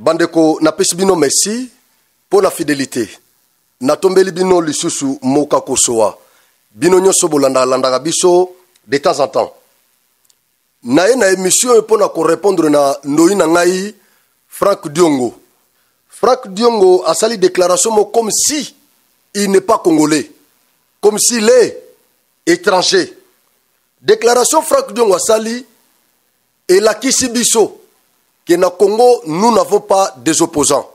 bandeko napesi bino merci mpo na fidelité natombeli bino lisusu moka kosoa bino nyonso bolandakalandaka biso de temps en temps naye na emission oyo mpo na korepondre na ndoi na ngai frank diongo frank diongo asali déclaration moko comme si il n'est pas congolais comme s'il est étranger déclaration frank diongo asali elakisi biso que na congo nous n'avons pas des opposants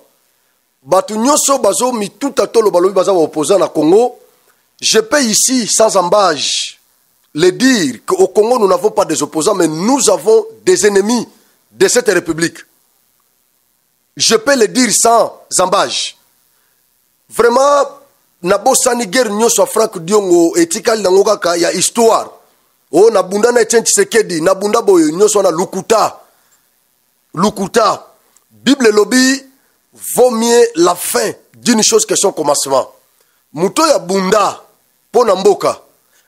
bato nyonso bazomituta tolo balobi baza baopposant na congo je peux ici sans embage le dire que au congo nous n'avons pas des opposants mais nous avons des ennemis de cette république je peux le dire sans embage vraiment nabosani guerre nyonso ya frank diongo etikali nango kaka ya histoire o oh, nabunda na etienne tshisekedi nabunda boye nyonso wana lukuta Lukuta. Bible elobi vaut mieux la fin d'une chose que son commencement. Moto ya bunda mpo na mboka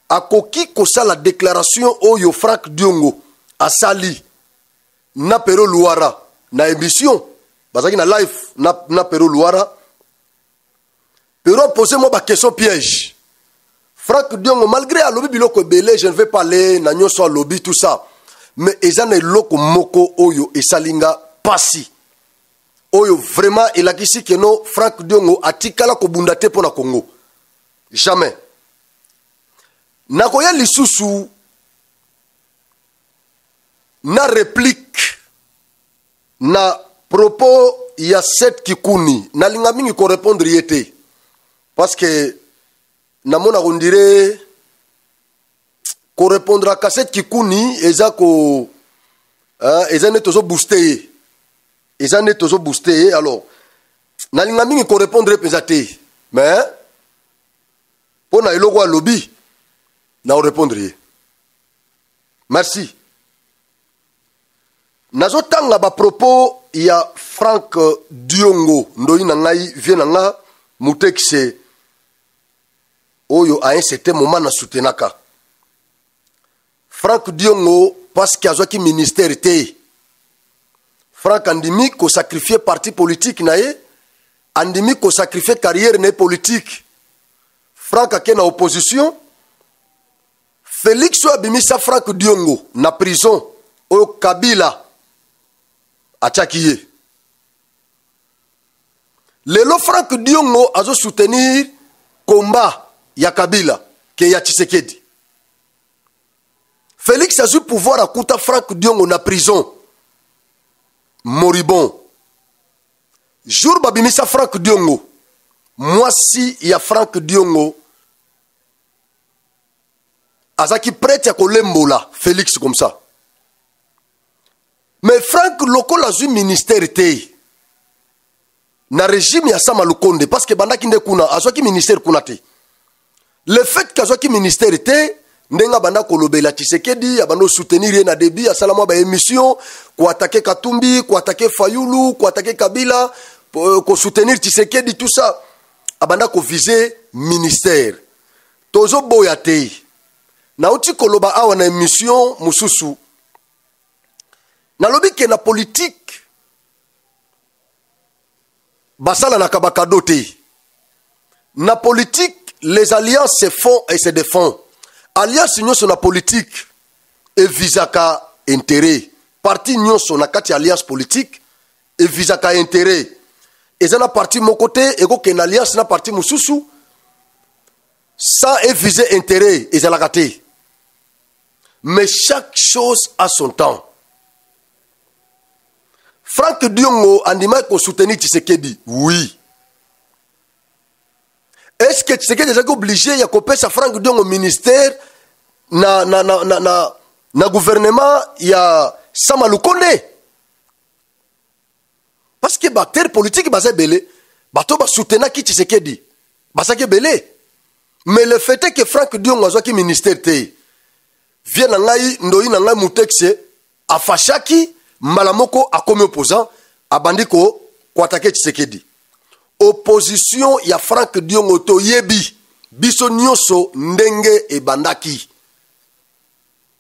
akoki kosala déclaration oyo Frank Diongo asali na Pero Luara na émission bazalaki na live na, na Pero Luara pero pose mwa baquestion piège frank diongo malgré alobi biloko ebele je ne vais pas aller na nyonso alobi tout ça mais eza na eloko moko oyo esali nga mpasi oyo vraiment elakisi keno frank diongo atikala kobunda te mpo na congo jamais nakoya lisusu na replique na propos ya set kikuni nalinga mingi korepondre ye te parce que namona kondire korepondre aka set kikuni eza ko uh, eza nde tozobooste ye eza nde tozobooste ye alors nalinga mingi korepondre ye mpenza te mais mpo na eloko alobi na korepondre ye merci nazotanga bapropos ya frank diongo ndoi na ngai vie na nga mutekise oyo a un certain moment na soutenaka frank diongo parceke azwaki ministère te frank andimi kosakrifie parti politike na ye andimi kosakrifie carrière na ye politike frank ake na opposition felix oyo abimisa frank diongo na prison oyo kabila atyaki ye lelo frank diongo azosoutenir komba ya kabila ke ya tshisekedi felix azwi pouvoir akuta frank diongo na prison moribon jour babimisa frank diongo mwasi ya frank diongo azalaki prete ya kolembola félix comme ça mais frank lokola azwi ministère te na régime ya sama lukonde parce que bandaki nde kuna azwaki ministère kuna te le fait que azwaki ministère te ndenge abanda kolobela tshisekedi abanda osoutenir ye na debi asala mwa baémission koatake katumbi koatake fayulu koatake kabila euh, kosoutenir tshisekedi tout ça abanda kovise ministère tozoboya te nauti koloba awa na emission mosusu nalobi ke na politike basalanaka bakado te na politike les alliances se font et se défend alliance nyonso na politike evisaka intérêt parti nyonso na kati ya alliance politique evisaka interet eza na parti moko te ekokende alliance na parti mosusu sans evise interet ezalaka te mais chaque chose a son temps frank diongo andimaki kosoutenir tshisekedi oui est ce que tshisekedi ezalaki oblige ya kopesa frank diongo ministère na, na, na, na, na, na gouvernement ya sama lukonde parce que baacteur politique baza ebele bato basoutenaki tshisekedi bazaki ebele mais le fait est que frank diongo azwaki ministère te vie na ngai ndoi na ngai mutexe afashaki mbala moko akomi opposant abandi koatake tshisekedi opposition ya frank diongo toyebi biso nyonso ndenge ebandaki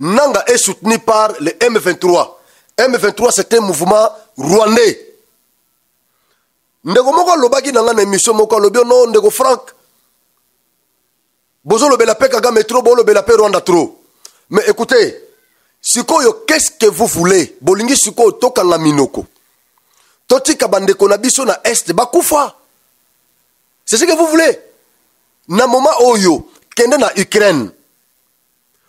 Nanga est soutenu par le M23. M23 c'est un mouvement rwandais. ndeko moko alobaki na ngai na émission moko alobi oh no ndeko frank bozolobela mpe kagame tro bolobela mpe rwanda tro mais écoutez sikoyo qu'est-ce que vous voulez bolingi sikoyo tokanga minoko totika bandeko na biso na est bakufa c'est ce que vous voulez na moment oyo kende na ukraine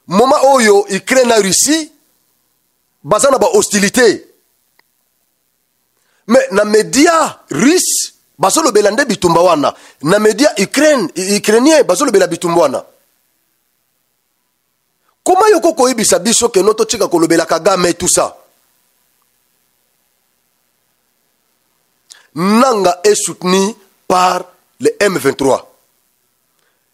moma oyo ukraine na russie baza na bahostilité me na media russe bazolobela nde bitumba wana na media ukraine ukrainien bazolobela bitumba wana koma yoko koyebisa biso keno totika kolobela kagame tout ça nanga est soutenu par le m23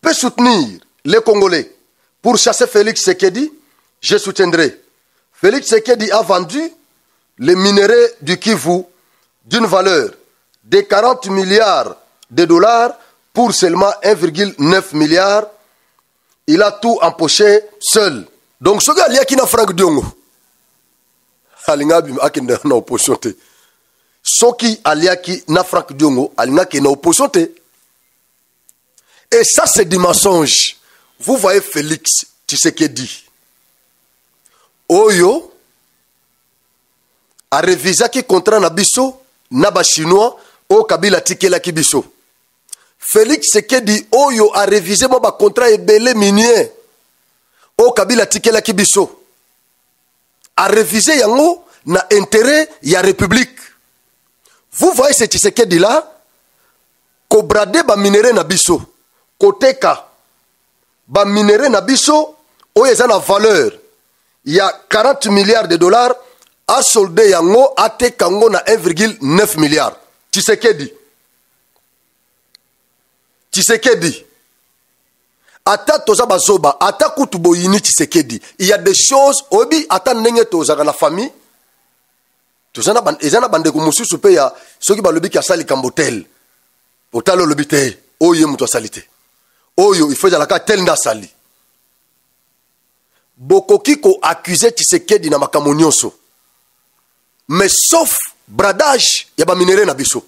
peut soutenir les Congolais pour chasser Félix Sekedi, je soutiendrai. Félix Sekedi a vendu les minerais du Kivu d'une valeur de 40 milliards de dollars pour seulement 1,9 milliard. Il a tout empoché seul. Donc, ce gars, il y a qui n'a Franck Diongo. Alinga bim akenda na opposition te. Soki aliaki na Franck Diongo, alinga ke na opposition te. Et ça, c'est du mensonge. Vous voyez Félix tu sais qu'il dit. Oyo a révisé qui contrat na biso na ba chinois au Kabila tikela ki biso. Félix dit Oyo a révisé mon contrat et belé minier au Kabila tikela ki biso. A révisé yango na intérêt ya république. Vous voyez ce dit là kobrade baminere na biso koteka baminere na biso oyo eza na valeur ya 40 milliards de dollars asolde yango ateka yango na 1,9 milliard tshisekedi tshisekedi ata toza bazoba ata kutu boyini tshisekedi il y a des choses oyebi ata ndenge tozalaka na famille toza na eza na bandeko mosusu mpe ya soki balobi ke asali likambo tel otali olobi te oyo ye moto asali te oyo ifo ezalaka tel nde asali bokoki koaccuse tshisekedi na makambo nyonso mais sauf bradage ya baminere na biso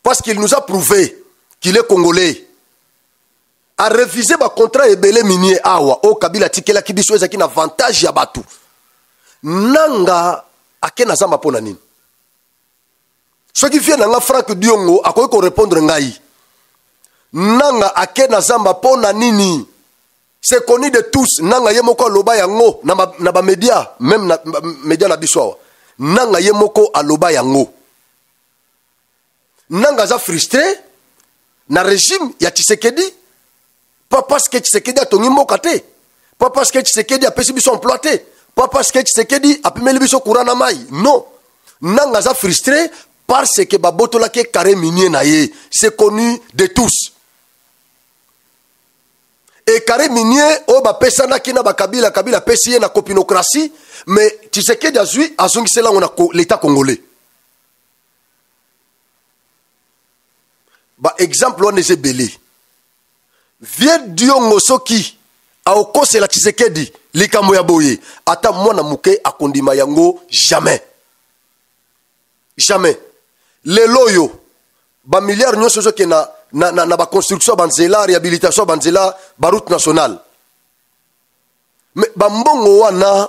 parce qu'il nous a prouvé qu'il est congolais a refuser ba contrat ebele minier awa o oh, kabila tikelaki biso ezaki na avantage ya batu nanga ake na zamba pona nini soki vie na nga frank diongo akoki ko répondre ngai nanga ake na zamba pona nini c'est connu de tous nanga ye moko aloba yango na ba, na ba media même na ba, media na biso awa nanga ye moko aloba yango nanga aza frustre na regime ya tshisekedi pas parce que tshisekedi atongi mboka te pas parce que tshisekedi apesi biso emploi te pas parce que tshisekedi apimeli biso courant na mai non nanga aza frustre parce que babotolaki ye carré minier na ye c'est connu de tous ekare minier oyo bapesanaki na bakabila kabila apesi ye na kopinokratie mais tshisekedi azwi azongisela yango na leta congolais ba exemple wana eza ebele vie diongo soki aokosela tshisekedi likambo ya boye ata mwana moke akondima yango jamais jamais lelo oyo bamilliard nyonso ezokende na, na, na, na baconstruction ya banzela réhabilitation ya banzela baroute nationale me bambongo wana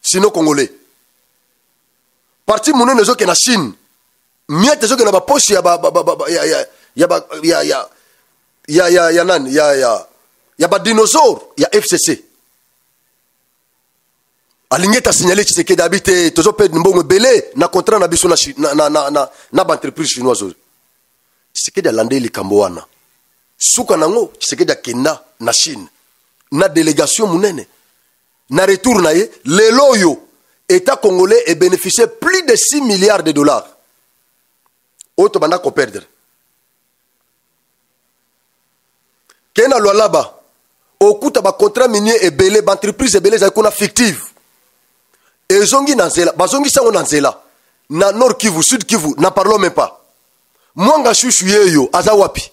sino congolais parti monene ezokende na chine miete ezokende na baposhi ya ya nani ya badinosaure ya fcc alingi ete asignale tshisekedi abi te tozopede mbongo ebele na contrat na biso na baentreprise chinoise oyo tshisekedi alandeli likambo wana suka nango tshisekedi akenda na chine na delegation monene na retour na ye lelo oyo etat congolais ebeneficie plus de 6 milliards de dollars oyo tobanda koperdre ke na lwalaba okuta bacontrat minier ebele baentreprise ebele ezali kuna fictive ezongi na nzela bazongisi yango na nzela na nord kivu sud kivu na parlons même pas mwanga shushu yeyo aza wapi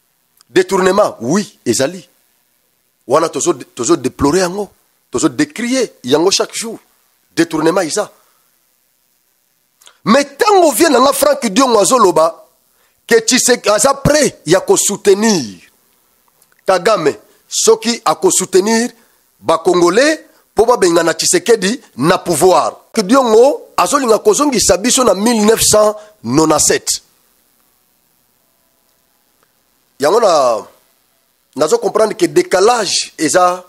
détournement oui ezali wana tozo tozo déplorer yango tozo décrier yango chaque jour détournement eza mais ntango vie na nga frank diongo azoloba ke tshisek aza prêt ya kosoutenir kagame soki akosoutenir bacongolais mpo babengana tshisekedi na pouvoir diongo azolinga kozongisa biso na 1997 yango na nazo comprendre que décalage eza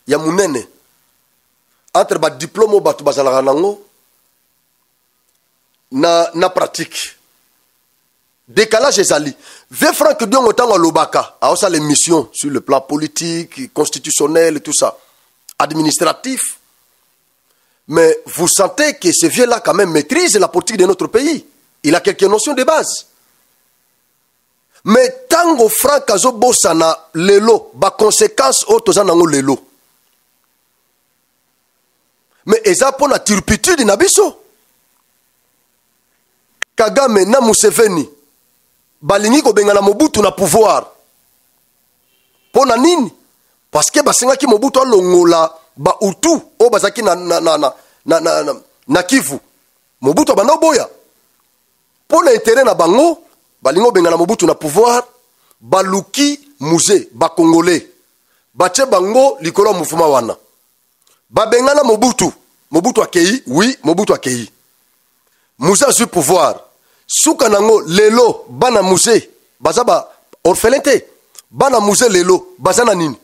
ya munene entre ba diplôme oyo bato bazalaka nango na, na pratique décalage ezali vieux frank diongo ntango alobaka aosala émission sur le plan politique constitutionnel tout ça administratif Mais vous sentez que ce vieux-là quand même maîtrise la politique de notre pays. Il a quelques notions de base. Mais tango Franck azo bosana lelo, ba conséquences au toza nango lelo. Mais eza pour la turpitude na biso. Kagame na Museveni balingi kobengana Mobutu na pouvoir. mpo na nini parceke basengaki mobutu alongola bautu oyo bazalaki na, na, na, na, na, na, na, na kivu mobutu abanda oboya mpo na intere na bango balingi obengana mobutu na pouvoir baluki musée bacongolais batie bango likolo ya mouvema wana babengana mobutu mobutu akei wi mobutu akei muze azwi pouvoir suka nango lelo bana muze baza ba orphelin te bana muze lelo baza na nini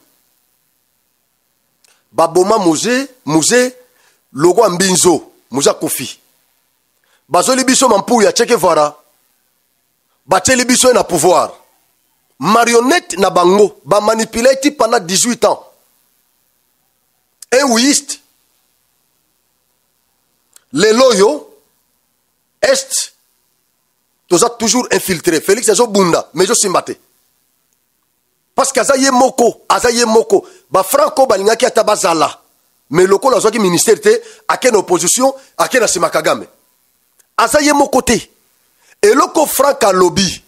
baboma muze muze lokwa mbinzo muze akufi bazoli biso mampuya ya chekevara batyeli biso ye na pouvoir marionnette na bango bamanipulaki pendant 18 ans eouiste lelo oyo est toza toujours infiltré félix azobunda mais ezosimba te parce que aza ye moko aza ye moko bafranco balingaki ata bazala mais lokola azwaki ministère te ake na opposition ake na nsima kagame aza ye moko te eloko frank alobi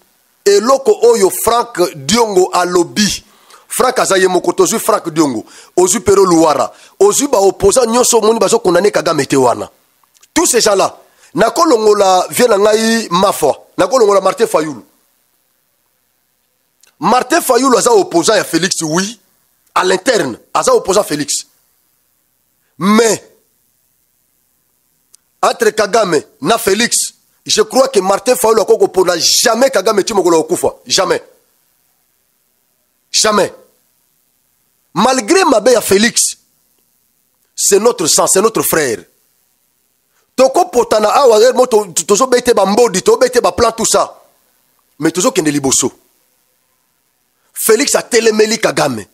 eloko oyo frank diongo alobi frank aza ye moko te ozwi frank diongo ozwi pero luwara ozwi baopposant nyonso omoni bazokondane kagame te wana tout ces gens là nakolongola vie na ngai mafwa nakolongola martin fayulu martin fayulu aza opposant ya félix oui à l'interne aza opposant félix mais entre kagame na felix je crois que martin fayulu akoki kopona jamais kagame ti mokolo kokufa jamais jamais malgré mabe ya felix c'est notre sang c'est notre frère tokopotana awa heure mo tozobete bambodi tobete baplan tout ça mais tozokende liboso felix atelemeli kagame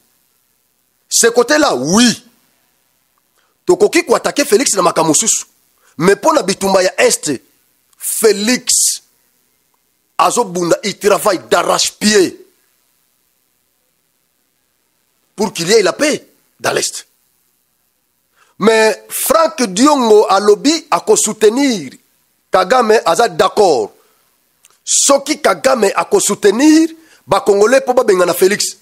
ce côté là oui tokoki koatake félix na makambo mosusu mais mpo na bitumba ya est félix azobunda il travaille d'arrache pied pour qu'il y ait la paix dans l'est mais frank diongo alobi akosoutenir kagame aza d'accord soki kagame akosoutenir bakongolais mpo babengana félix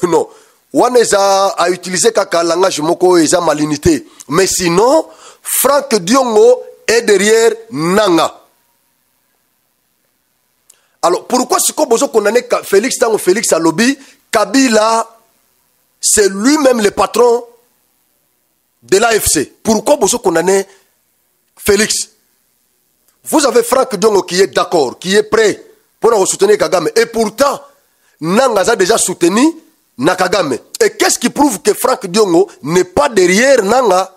non wana eza autilize kaka langage moko oyo eza malinité mais sinon frank diongo est derrière nanga alors pourquoi sikoyo bozo condamne félix ntango félix alobi kabila c'est lui-même le patron de l'afc pourquoi bozo condamne félix vous avez frank diongo qui est d'accord qui est prêt mpo na kosoutenir kagame et pourtant nanga aza déjà soutenu na kagame et qu'est ce qui prouve que frank diongo n'est pas derrière nanga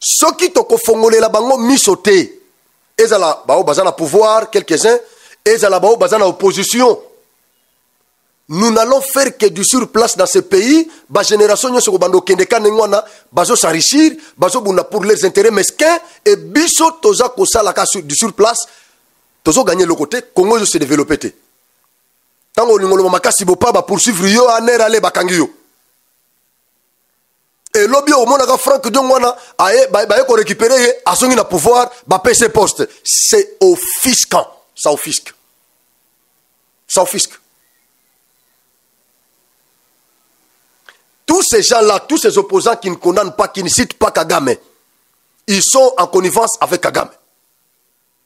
soki tokofongolela bango miso te ezala baoyo baza na pouvoir quelques-uns ezala baoyo baza na opposition nous n'allons faire que du sur place dans ce pays bagénération nyonso kobanda okende ka ndenge wana bazosarichir bazobunda pour les intérêts mesquin e biso toza kosalaka du sur place tozoganye eloko te congo ezo se développe te ntango olingo loba makasi bopa bapoursuivre yo aner ale bakangi yo elobi omonaka frank diongo wana aye baye korécupere ye azongi na pouvoir bapese poste c'est ofisquant ça ofisque ça ofisque tous ces gens là tous ces opposants qui ne condamnent pas qui ne citent pas kagame ils sont en connivence avec kagame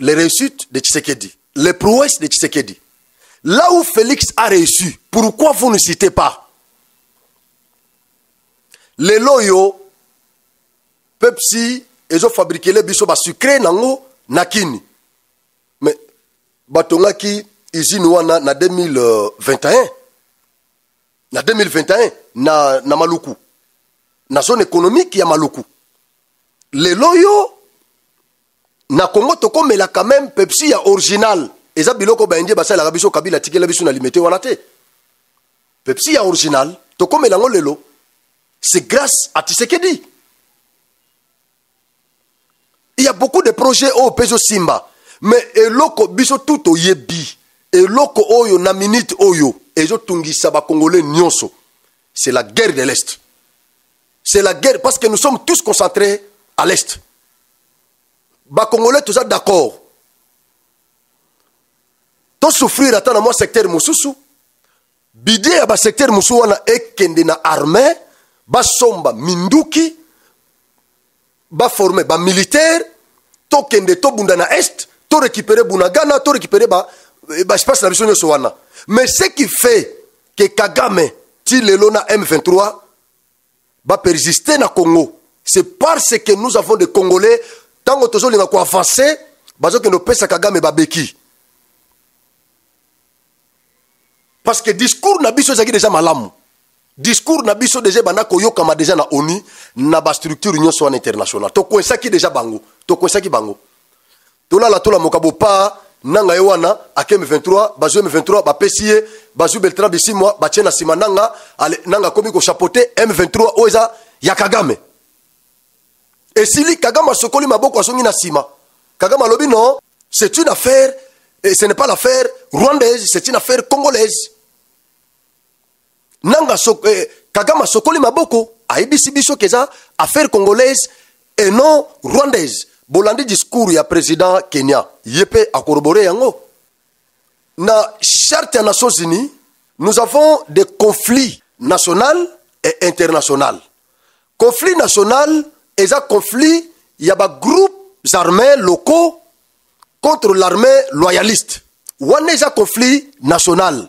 les réussites de Tshisekedi, les prouesses de Tshisekedi. Là où Félix a réussi, pourquoi vous ne citez pas Les loyaux, Pepsi, ils ont fabriqué les bisous sucrés nango nakini. Mais batongaki usine wana na 2021 na 2021 na, na maluku na zone économique ya maluku lelo yo na congo tokomela quand même pepsi ya original eza biloko baindien basalelaka biso kabila atikela biso na limete wana te pepsi ya original tokomela yango lelo c'est grâce à tisekedi il y a beaucoup de projets oyo mpe ezosimba mais eloko biso tu toyebi eloko oyo na minute oyo ezotungisa bakongole nyonso c'est la guerre de l'est c'est la guerre parce que nous sommes tous concentrés à l'est bakongolais toza d'accord tosouffrir ata na mwa secteur mosusu bidie ya basecteur mosusu wana ekende na armée basomba minduki baforme bamilitaire tokende tobunda na est torécupere bunagana torécupere eh, baespace na biso nyonso wana mais ce qui fait ke kagame ti lelo na m23 ba persister na Congo c'est parce que nous avons des Congolais tango tozo linga ko avancer bazo kendo pesa Kagame babeki parce que discours na biso ezaki déjà malamu discours na biso deja ebanda koyokama deja na onu na bastructure nyonso wana international tokoesaki deja bango tokoesaki bango tolala tolamoka bopaa nanga ye wana ake m23 bazwi m23 bapesi ye bazwi beltra bisimwa batie na nsima nanga ale nanga akomi kochapote m23 oyo eza ya kagame esili kagame asokoli maboko azongi na nsima kagame alobi non c'est une affaire et ce n'est pas l'affaire rwandaise c'est une affaire congolaise nanga so, eh, kagame asokoli maboko ayebisi biso ke eza affaire congolaise et non rwandaise bolandi discours ya président kenya ye mpe akorobore yango na charte ya nations unies nous avons des conflits national et international conflit national eza conflit ya bagroupes armés locaux contre l'armée loyaliste wana eza conflit national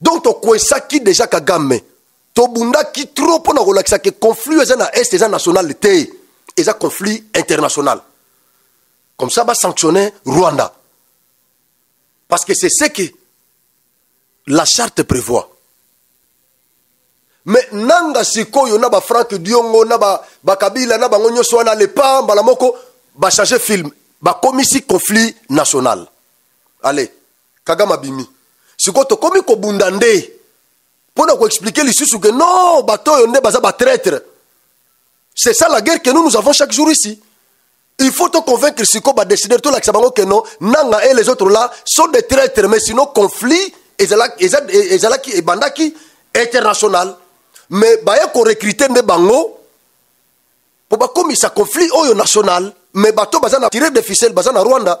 donc tokwesaki deja kagame tobundaki trop mpo na kolakisa ke conflit eza na est eza national te eza conflit international comme ça basanctionne rwanda parce que c'est ce que la charte prévoit me nanga sikoyo na bafrank diongo na bakabila na bango nyonso wana lepa mbala moko bachange film bakomisi conflit national ale kagame abimi sikoyo tokomi kobunda nde mpo na koexplike lisusu ke non bato oyo nde baza batraitre c'est ça la guerre que nous nous avons chaque jour ici il faut te convaincre siko ba décideur to lakisa bango que non nanga et les autres là sont des traîtres mais sinon conflit ezalaki ezalaki ebandaki international mais baye ko recruter nde bango po bakomisa conflit oyo national mais bato baza na tirer de ficelle baza na Rwanda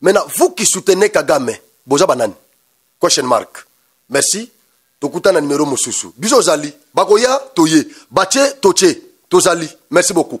maintenant vous qui soutenez kagame boza banani question mark merci tokuta na numero mosusu biso ozali bakoya toye batie totie tozali merci beaucoup